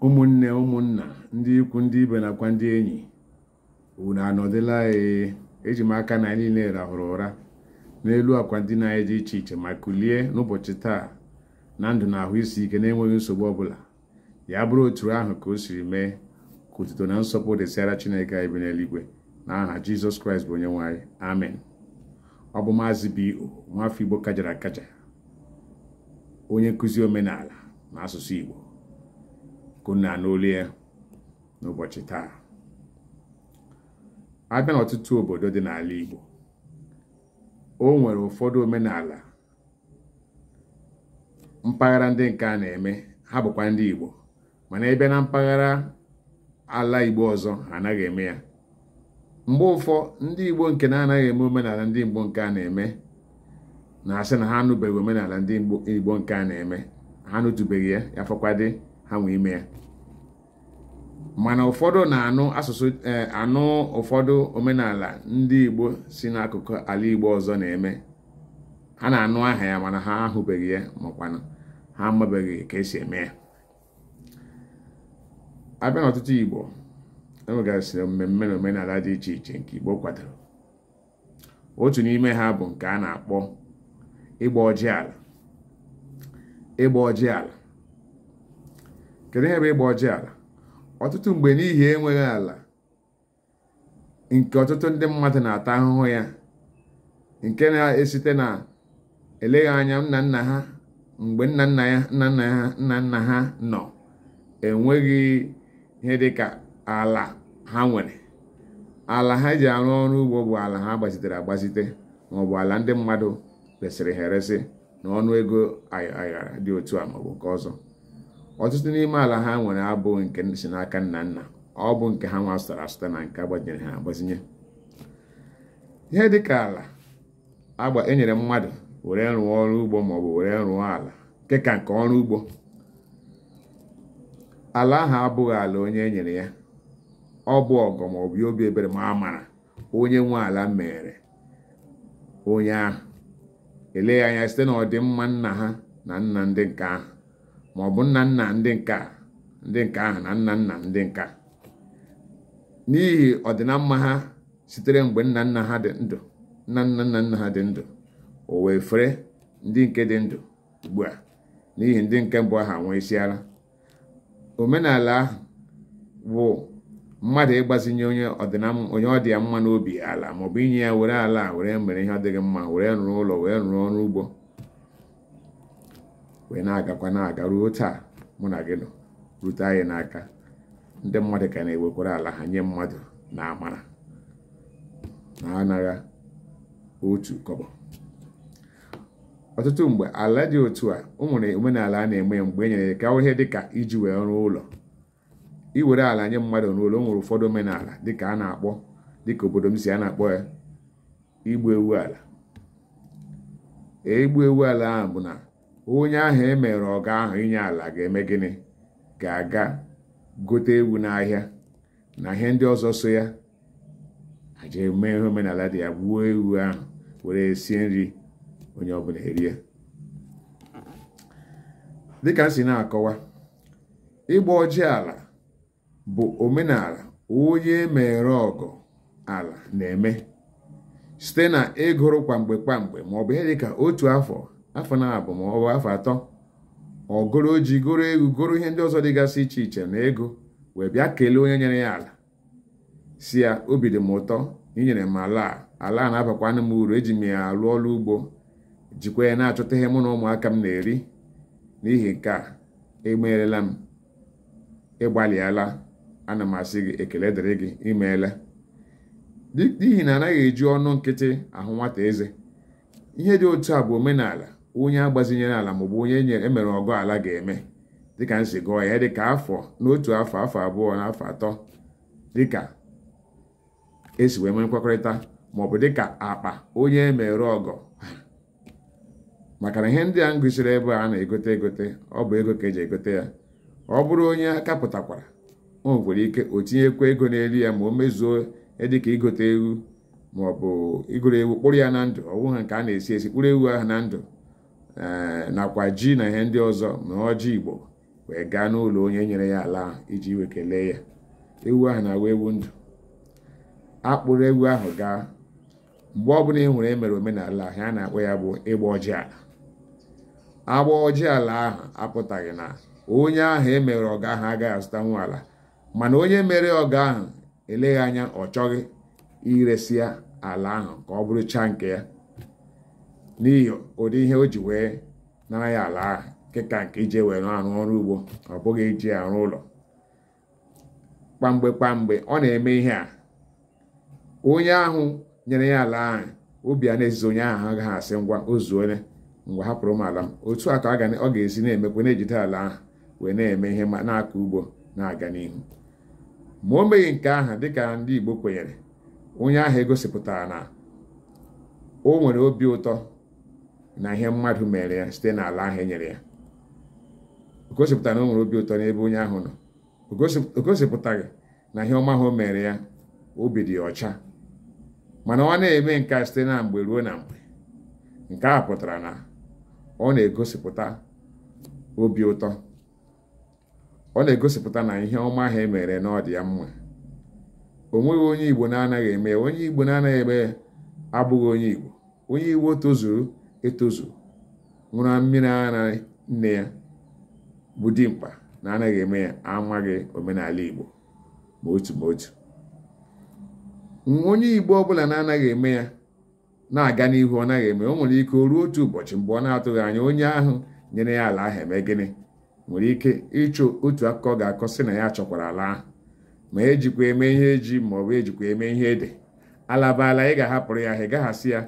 ụmụnne ụmụnna ndị ikwu ndị ibe nakwa ndị enyi unu anọdịla ee eji m aka na anyị niile rahụrụ ụra n'elu akwa ndina anyị dị iche iche ma kulie n'ụbọchị taa na ndụ na ahụ isi ike na-enweghị nsogbu ọbụla ya bụrụ otu ahụ ka o siri mee ka otuto na nsọpụrụ dịsịara chineke anyị bi n'eluigwe n'aha jizọs kraịst bụ onye nwe anyị amen ọ bụ maazị B.O. nwafọ igbo kajara akaja onye nkụzi omenala na asụsụ igbo ka unu na-anụ olu ya n'ụbọchị taa abịa n'ọtụtụ obodo dị n'ala igbo o nwere ụfọdụ omenala mpaghara ndị nke a na-eme ha bụkwa ndị Igbo mana abịa na mpaghara ala Igbo ọzọ ha anaghị eme ya mgbe ụfọ ndị Igbo nke na-anaghị eme omenala ndị Igbo nke a na-eme na-asị na ha anụbeghị omenala ndị Igbo nke a na-eme ha anụtụbeghị ya ya fọkwadị ha nwa ime ya mana ụfọdụ na-anụ asụsụ eh, anụ ụfọdụ omenala ndị Igbo si n'akụkụ ala Igbo ọzọ na-eme ha na-anụ aha ya mana ha ahụbeghị ya makwana ha amabeghị ka esi eme ya abịa n'ọtụtụ Igbo enwegasịrị mmemme na omenala dị iche iche nke Igbo kwadoro otu n'ime ha bụ nke a na-akpọ ịgba ọjị ala ịgba ọjị ala kedu ihe bụ ịgba ọjị ala ọtụtụ mgbe n'ihi enweghị ala nke ọtụtụ ndị mmadụ na-ata ahụhụ ya nke na-esite na eleghị anya nna nna ha mgbe nna nna nna ha nọ enweghị ihe dịka ala ha nwere ala ha ji arụ ọrụ ugbo bụ ala ha gbazitere agbazite maọbụ ala ndị mmadụ resịrị ha eresị n'ọnụ ego aghara dị otu a maọbụ nke ọzọ ọtụtụ n'ime ala ha nwere abụghị nke si n'aka nna nna ọ bụ nke ha nwa zụtara azụta na nke agbazinyere ha agbazinye ihe dịka ala agba enyere mmadụ were rụọ ọrụ ugbo maọbụ were rụọ ala nke ka nke ọrụ ugbo ala ahụ abụghị ala onye enyere ya ọ bụ ọgọ maọbụ ya obi ebere ma amara onye nwe ala meere onye ahụ eleghị anya site na ọdịmma nna ha na nna ndị nke ahụ ma ọ bụ nna nna ndị nke ahụ na nna nna ndị nke a n'ihi ọdịnamma ha sitere mgbe nna nna ha dị ndụ nna nna nna nna ha dị ndụ o wee fere ndị nke dị ndụ ugbu a n'ihi ndị nke mbụ ahụ anwụsịala omenala ahụ bụ mmadụ ịgbazinye onye onye ọ dị ya mma n'obi ala maọbụ inye ya were ala were mere ihe ọ dị gị mma were rụrụ ụlọ were rụrụ ọrụ ugbo wee na-agakwa na-aga ruo taa mụ na gị nọ rute anyị n'aka ndị mmadụ ka na-ewekwara ala ha nye mmadụ n'amara na anaghị otu kọbọ ọtụtụ mgbe ala dị otu a o nwere omenala a na-eme mgbe e nyere ka ihe dịka iji wee rụọ ụlọ iwere ala nye mmadụ n'ụlọ o nwere ụfọdụ omenala dịka a na-akpọ dịka obodo m si a na-akpọ ya igbu ewu ala igbu ewu ala ahụ bụ na onye ahụ e mere ọgọ ahụ inye ala ga-eme gịnị ga-aga gote ewu n'ahịa na ihe ndị ọzọ so ya eji eme ihe omenala dị ya gbuo ewu ahụ were sie nri onye ọbụla erie dịka m si na-akọwa ịgba ọjị ala bụ omenala onye e mere ọgọ ala na-eme site na igoro kwamgbe kwamgbe ma ọ bụ ihe dị ka otu afọ afọ naabọ ma ọ bụ afọ atọ o goro ji goro ewu goro ihe ndị ọzọ dịgasị iche iche na ego wee bịa kelee onye nyere ya ala sị ya obi dị m ụtọ na inyere m ala a ala a na-abakwanụ m uru eji m ya alụ ọrụ ugbo jikwa ya na-achọta ihe mụ na ụmụaka m na-eri n'ihi nke a imeerela m ịgbalịala ana m asị gị ekele dịrị gị imeela n'ihi na anaghị eji ọnụ nkịtị ahụ nwata eze ihe dị otu a bụ omenala onye agbazinyere ala maọbụ onye emere ọgọ ala ga-eme dịka m si gụọ ya dịka afọ n'otu afọ afọ abụọ na afọ atọ dịka esi wee nwee nkwekọrịta maọbụ dịka akpa onye e mere ọgọ maka na ihe ndị a m gụsiri ebe a na-egote egote ọ bụ ego ka eji egote ya ọ bụrụ onye aka pụtakwara o nwere ike o tinyekwa ego n'elu ya ma o mezuo dịka igote ewu maọbụ igoro ewu kpụrụ ya na ndụ ọ wụghị nke a na-esi esi kpụrụ ewu ahụ na ndụ eh, nakwa ji na ihe ndị ọzọ ma ọjị igbo wee gaa n'ụlọ onye nyere ya ala ahụ iji wee kelee ya ewu ahụ na-awụ ewu ndụ a kpụrụ ewu ahụ gaa mgbe ọbụla ị hụrụ emere omenala ahụ a na-akpọ ya bụ ịgba ọjị ala ịgba ọjị ala ahụ apụtaghị na onye ahụ emere ọgọ ahụ agaghị azụtanwu ala mana onye mere ọgọ ahụ eleghị anya ọ chọghị iresi ya ala ahụ ka ọ bụrụchaa nke ya n'ihi ụdị ihe o ji wee nara ya ala ahụ nke ka nke iji wee arụ ọrụ ugbo ọ bụghị iji arụ ụlọ kwamgbe kwamgbe ọ na-eme ihe a onye ahụ nyere ya ala ahụ obi a na-ezizi onye ahụ agaghị asị ngwa o zuole ngwa hapụrụ m ala m otu a ka ọ ga-esi na-emekwa na-ejide ala ahụ wee na-eme ihe ma na-akọ ugbo na-aga n'ihu ma o meghị nke ahụ dịka ndị Igbo kwenyere onye ahụ egosipụtaghị na o nwere obi ụtọ na ihe mmadụ mere ya site n'ala ahụ e nyere ya o gosipụtaghị na o nwere obi ụtọ n'ebe onye ahụ nọ o gosipụtaghị na ihe ọma ahụ o mere ya obi dị ya ọcha mana ọ na-eme nke a site na mgbe ruo na mgbe nke a pụtara na ọ na-egosipụta obi ụtọ ọ na-egosipụta na ihe ọma ahụ e mere na ọ dị ya mma o nweghị onye igbo na-anaghị eme ya onye igbo na-anaghị eme ya abụghị onye igbo onye igbo tozuru etozu ṅụrụ mmiri ara nne ya bụ dimkpa na-anaghị eme ya amaghị omenala igbo ma otu ma otu onye igbo ọbụla na-anaghị eme ya na-aga n'ihu ọ naghị eme o nwere ike o ruo otu ụbọchị mgbe ọ na-atụghị anya onye ahụ nyere ya ala ahụ eme gịnị nwere ike ịchọ otu akụkọ ọ ga-akọ sị na ya chọkwara ala ahụ ma ejikwa eme ihe ji ma ọ bụ ejikwa eme ihe ede ala bụ ala ị ga-ahapụrụ ya ahụ ị gaghị asị ya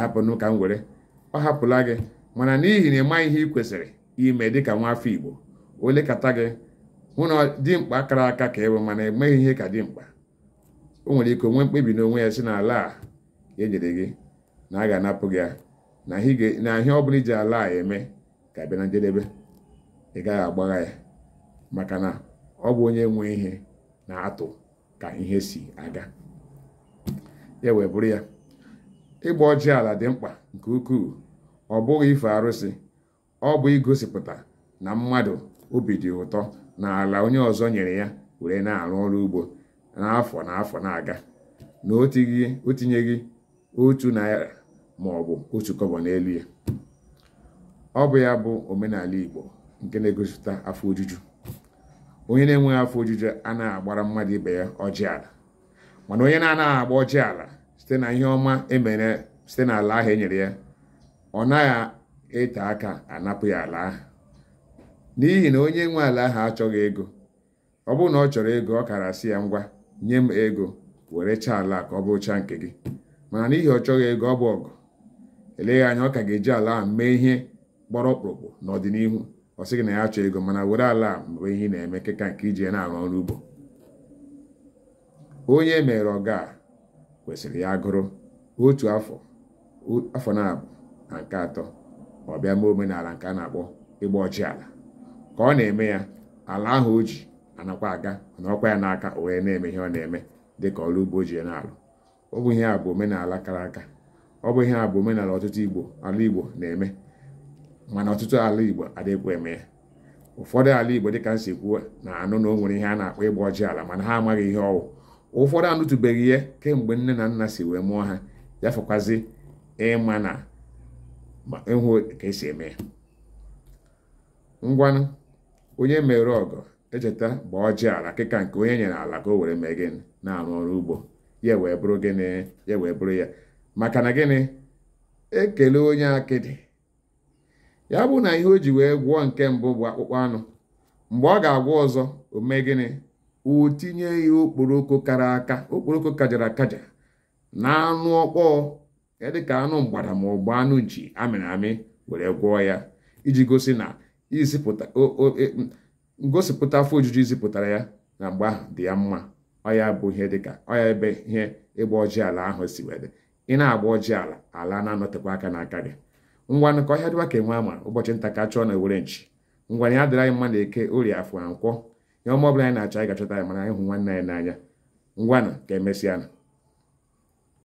hapụnụ ka m were ọ hapụla gị mana n'ihi na ị maghị ihe ị kwesịrị ime dịka nwa afọ igbo o lekata gị hụ na dimkpa kara aka ka ị bụ mana emeghị ihe ka dimkpa o nwere ike o nwee mkpebi n'onwe ya sị na ala a e nyere gị na a ga-anapụ gị ya na ihe ọ bụla i ji ala a eme ka bịa na njedebe ị gaghị agbagha ya maka na ọ bụ onye nwe ihe na-atụ ka ihe si aga ya wee bụrụ ya ịgba ọjị ala dị mkpa nke ukwuu ọ bụghị ife arụsị ọ bụ igosipụta na mmadụ obi dị ụtọ na ala onye ọzọ nyere ya were na-arụ ọrụ ugbo n'afọ na afọ na-aga na o tinyeghị otu naira ma ọ bụ otu kọbọ n'elu ya ọ bụ ya bụ omenala Igbo nke na-egosipụta afọ ojuju onye na-enweghị afọ ojuju anaghị agbara mmadụ ibe ya ọjị ala mana onye na-anaghị agba ọjị ala site na ihe ọma e mere site n'ala ahụ e nyere ya ọ naghị ete aka a napụ ya ala ahụ n'ihi na onye nwe ala ahụ achọghị ego ọ bụrụ na ọ chọrọ ego ọ kara sị ya ngwa nye m ego werechaa ala ka ọ bụchaa nke gị mana n'ihi ọ chọghị ego ọ bụ ọgọ eleghị anya ọ ka ga-eji ala ahụ mee ihe gbara ọkpụrụkpụ n'ọdịnihu ọ sị gị na ya achọghị ego mana were ala a mebe ihe ị na-eme nke ka nke iji ya na-arụ ọrụ ugbo onye e mere ọgọ a kwesịrị ya agụrụ otu afọ afọ naabọ na nke atọ ọ bịa mee omenala nke a na-akpọ ịgba ọjị ala ka ọ na-eme ya ala ahụ o ji anakwa aga anọkwa ya n'aka o wee na-eme ihe ọ na-eme dịka ọrụ ugbo o ji ya na-alụ ọ bụ ihe a bụ omenala kara aka ọ bụ ihe a bụ omenala ọtụtụ igbo ala igbo na-eme mana ọtụtụ ala igbo adịghịkwa eme ya ụfọdụ ala igbo dịka m si kwuo na-anụ na o nwere ihe a na-akpọ ịgba ọjị ala mana ha amaghị ihe ọ wụ ụfọdụ anụtụbeghị ya kemgbe nne na nna si wee mụọ ha ya fọkwazi ịma na ịhụ ka e si eme ya ngwanụ onye e mere ọgọ echeta gbaa ọjị ala kịka nke onye e nyere ala ka o were mee gịnị na-arụ ọrụ ugbo ya wee bụrụ gịnị ya wee bụrụ ya maka na gịnị e kelee onye akịdị ya bụ na ihe o ji wee gwọọ nke mbụ bụ akpụkpọ anụ mgbe ọ ga-agwọ ọzọ o mee gịnị o tinye ya okporoko kara aka okporoko kajara akaja na anụ ọkpọọ ya dị ka anụ mgbada ma ọ bụ anụ nchi a mịrị amị were gwọọ ya iji gosi na izipụta e, ngosipụta afọ ojuju izipụtara ya na mgbe ahụ dị ya mma ọ ya bụ ihe dịka ọ ya ebe ihe ịgba ọjị ala ahụ si wee dị ị na-agba ọjị ala ala na-anọtekwa aka n'aka gị ngwanụ ka ọhịa dịwa ka enwe ama ụbọchị nta ka a chụọ n'owere nchi ngwanụ ya dịrị anyị mma na eke orie afọ na nkwọ ihe ọma ọbụla anyị na-achọ anyị ga-achọta ya mana anyị hụ nwanne anyị n'anya ngwanụ ka e mesịa nụ